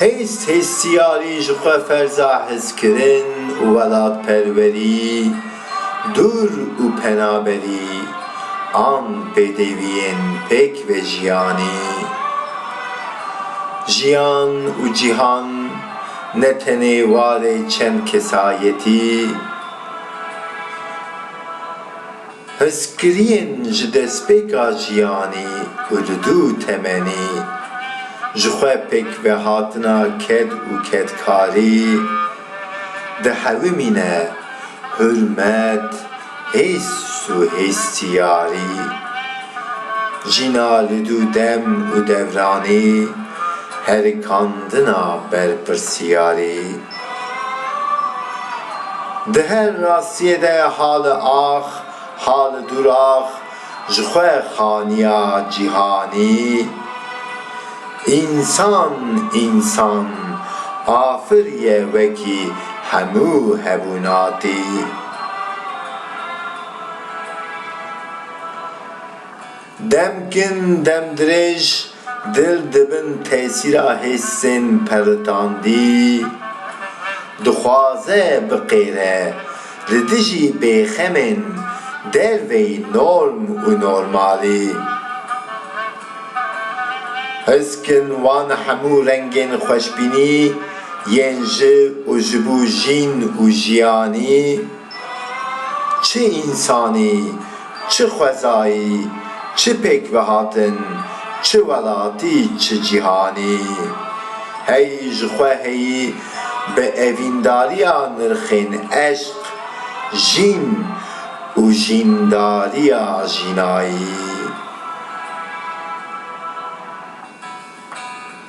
Hêst hêstiyarî ji xwe ferza hizkirin û welatperwerî, dûr û penaberî an pêdêviyên pêk vejiyanî. Jiyan û cîhan ne tenê warê çend kesayetî. Hizkiriyên ji destpêka jiyanî ku li dû temenî ji xwe pêk vehatina ked û kedkarî dihewimîne, hurmet, hêst û hêstiyarî. Jîna li dû dem û devranî herikandina berpirsiyarî. Di her rastiyê de hali ax, hali dûrax ji xwe xaniya cîhanî. Însan însan afir ye wekî hemû hevûnatî. Dem kin dem dirêj dil di bin tesîra hêsên pelitandî dixwaze biqêre li dijî bêxemên derveyî norm û normalî. His kin wan hemû rengên xweşbînî yên ji û ji bo jîn û jiyanî, çi însanî, Çi xwezayî, çi pêkvehatin, çi welatî, çi cîhanî. Hey ji xwe heyî bi evîndariya nirxên eşq, jîn û jîndariya jînayî.